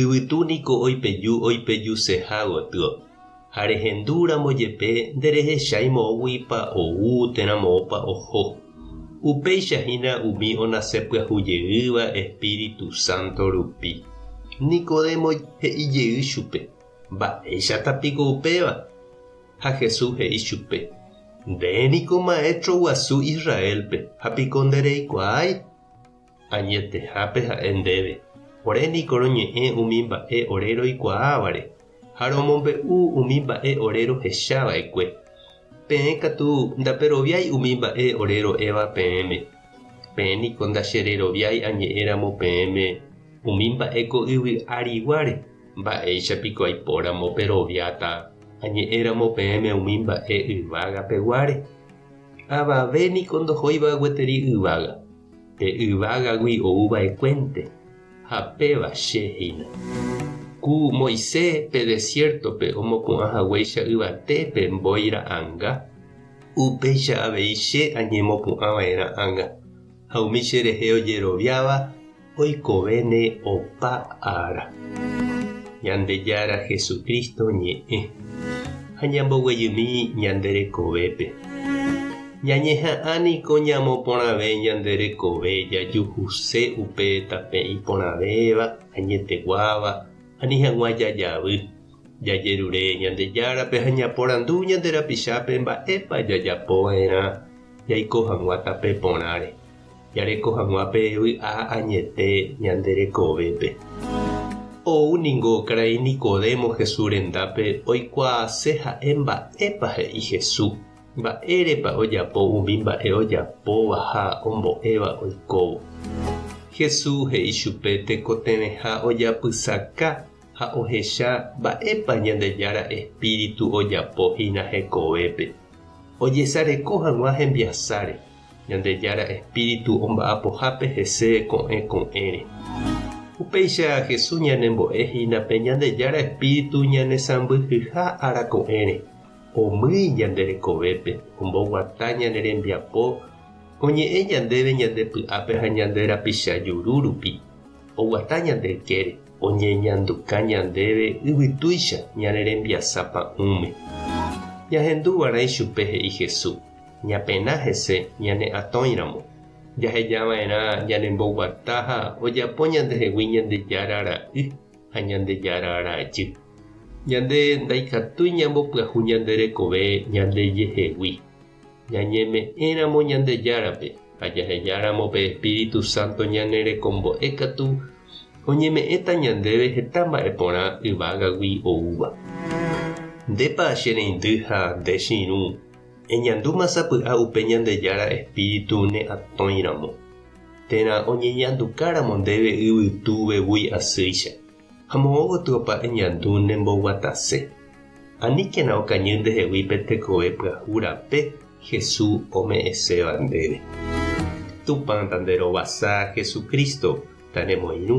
Yvytu niko oipeju oipejuseha gotyo, ha rehendu ramo jepe nderehechái moõguipa ou térã moõpa oho. Upéicha hína umi onase pyahu jeýva Espíritu Santo rupi. Nicodemo he'i jey chupe, Mba'éichata piko upéva? Ha Jesús he'i chupe, Nde niko maestro guasu Israélpe, ha piko ndereikuaái? Añetehápe ha'e ndéve, Ore niko roñe'ẽ umi mba'e ore roikuaávare, ha romombe'u umi mba'e ore rohecha va'ekue. Peẽ katu ndaperoviái umi mba'e ore ro'éva peẽme. Peẽ niko ndachereroviái añe'ẽ ramo peẽme umi mba'e ko yvy ariguáre, mba'éicha piko aipo ramo peroviáta añe'ẽ ramo peẽme umi mba'e yvága peguáre? Avave niko ndohóiva gueteri yvága. Pe yvágagui ou va'ekuénte, ha péva Che hína. Ku Moise pe desiértope omopu'ã haguéicha yvate pe mbói ra'anga, upéicha avei Che añemopu'ã vae ra'anga, ha umi cherehe ojeroviáva oikovéne opa ára. Ñandejára Jesucristo ñe'ẽ. Ha ñamboguejymi ñande rekovépe. Ñañeha'ã niko ñamoporãve ñande rekove jajuhuse upe tape iporãvéva, añeteguáva, ani hag̃ua jajavy. Jajerure Ñandejárape ha ñaporandu ñande rapichápe mba'épa jajapo va'erã jaiko hag̃ua tape porãre, jareko hag̃ua pe vy'a añete ñande rekovépe. Ou ningo karai Nicodemo Jesús rendápe oikuaase ha'e mba'épa he'i Jesús. Mba'érepa ojapo umi mba'e ojapóva ha ombo'éva oikóvo? Jesús he'i chupe tekotevẽha ojapysaka ha ohecha mba'épa Ñandejára espíritu ojapo hína hekovépe. Ojesareko hag̃ua hembiasáre, Ñandejára espíritu omba'apohápe hese ko'ẽ ko'ẽre. Upéicha Jesús ñanembo'e hína pe Ñandejára espíritu ñanesãmbyhyha ára ko'ẽre. Omýi ñande rekovépe, omboguata ñane rembiapo, oñe'ẽ ñandéve ñande py'ápe ha ñande rapicha juru rupi, oguata ñande ykére, oñeñanduka ñandéve yvytúicha ñane rembiasa pa'ũme. Ñahendu va'erã ichupe he'i Hesu, ñapena hese ñane atõi ramo. Jaheja va'erã ñane mboguata ha ojapo ñandehegui Ñandejára ra'y. ha Ñandejára ára ajy. Ñande ndaikatúi ñambopyahu ñande rekove ñandejehegui. Ñañeme'ẽramo Ñandejárape ha jahejáramo pe espíritu sánto ñane rekombo'e katu oñeme'ẽta ñandéve heta mba'e porã yvágagui oúva. Ndépa che reindy ha nde che irũ eñandúma sapy'a upe Ñandejára espíritu ne atõiramo? térã oñeñandukáramo ndéve yvytu vevúi asýicha, ha moõ gotyo opa eñandu ne mboguatase. Aníkena okañy ndehegui pe tekove pyahu rape Hesu ome'ẽséva ndéve. Tupã ta nde rovasa Jesucristo ta ne moirũ.